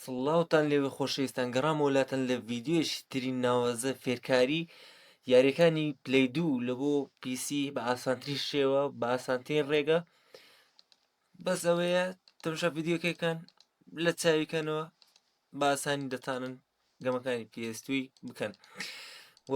سڵاوتان لێبێ خۆشەویستان گەڕامەوە لاتان لە ڤیدیۆیەکی تری ناوازە فێرکاری یاریەکانی پلەی دوو لە بۆ پیسی بە ئاسانترین شێوە بە ئاسانترین ڕێگە بەس ئەوەیە تەمشا ڤیددیوکەکان لە چاویکەنەوە باسانی دەتانن گەمەکانی پێستوی بکەن و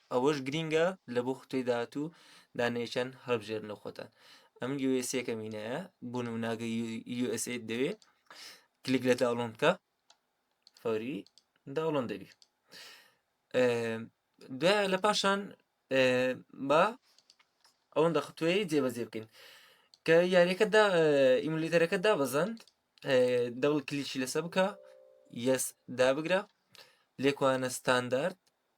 ئەوەش گرینگە لە بۆ خوتەی داهاتوو دانەیەکیان هەڵبژێرن لە خۆتان ئەم یوسەکە مینایە بۆ نموناگە USA دەوێ کلیک لە داڵۆن بکە فەوری داڵۆن دەبی دوای لە پاشان با ئەوەن دەخطوێ جێبەجێ بکەین کە یاریەکەدا ئیملیتەرەکە دابەزند دەڵ کلیشی لەسە بکە یەس دابگرە لێکوانە ستاندارد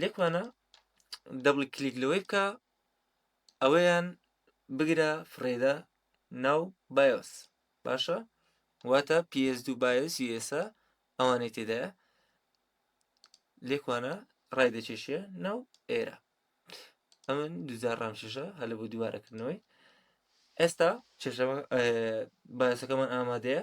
لێکمانە دەبڵ کلیک لەوەی بکە ئەوەیان بگرە فڕێدا ناو بایۆس باشە واتە PS دو بایۆس یسا ئەوانەی تێدایە لێکوانە ڕای دەچێشە ناو ئێرە ئەمن دوجار ڕامشێشە هەلە بۆ دووارەکردنەوەی ئێستا چێشەکەمان ئامادەیە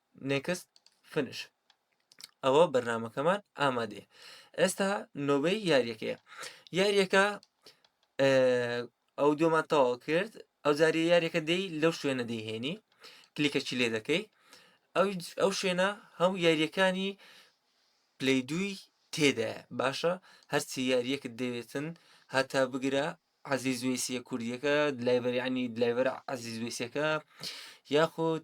Next Finish ئەوە بەرنمەکەمان ئامادەیە ئێستا نۆبەی یاریەکەیە یاریەکە ئەو دۆمان تەواو کرد ئەو جاری یاریەکە دەی لەو شوێنە دەیهێنی کلیکەچی لێ دەکەی ئەو شوێنە هەموو یاریەکانی پلی دووی تێدایە باشە هەرچی یاریەکت دەوێتن هەتا بگرە عزیز وێسیە کوردیەکە دلایبەرانی دلایبەر عزیز وێسەکە یاخود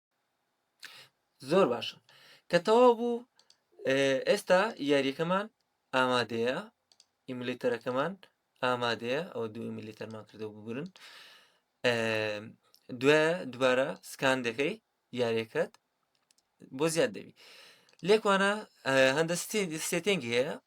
زۆر باشە کە تەواو بوو ئێستا یاریەکەمان ئامادەیە ئیملیتەرەکەمان ئامادەیە ئەو دوو ئیملیتەرمان کردەوە بگرن دوێ دوبارە سکان دەکەی یاریەکەت بۆ زیاد دەبی لێکوانە هەندە سێتنگی هەیە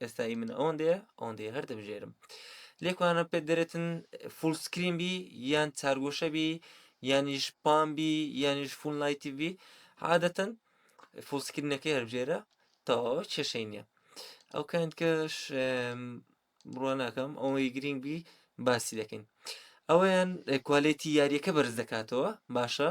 ئێستا ئی من ئەوەندەیە ئەوەندەیە هەر دەبژێرم لێکوانە پێ دەرێتن فول سکرین بی یان چارگۆشە بی یانیش پام بی یانیش فون لایتی بی عادەتەن فول سکرینەکەی هەربژێرە تەواوە کێشەی نییە ئەو کاین کەش بڕوە ناکەم ئەوەی گرنگ بی باسی دەکەین ئەویان کوالێتی یاریەکە بەرز دەکاتەوە باشە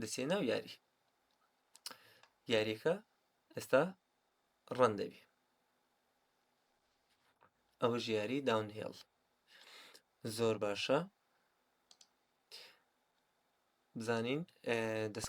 دەچێ ناو یاری یاریەکە ئێستا ڕەن دەبی ئەوە ژیاری داون هێڵ زۆر باشە بزانین دەست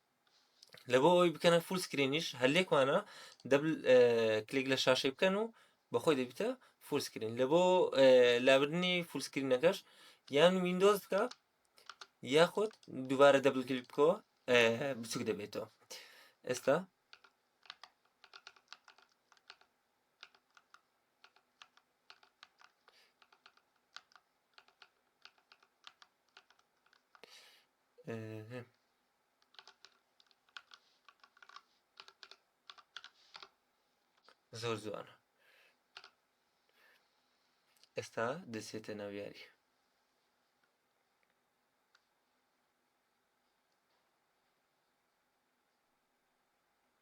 لەبۆ ئەوی بکەنە فول سکرینیش هەلێکمانە دەبل کلیک لە شاشەی بکەن و بەخۆی دەبیتە فول سکرین لە بۆ لابردنی فول سکرینەکەش یان وینندۆز بکە یاخود دووبارە دەبل کلیک بکەوە بچوک دەبێتەوە ئێستا زۆر جوانە ئێستا دەچێتە ناو یاری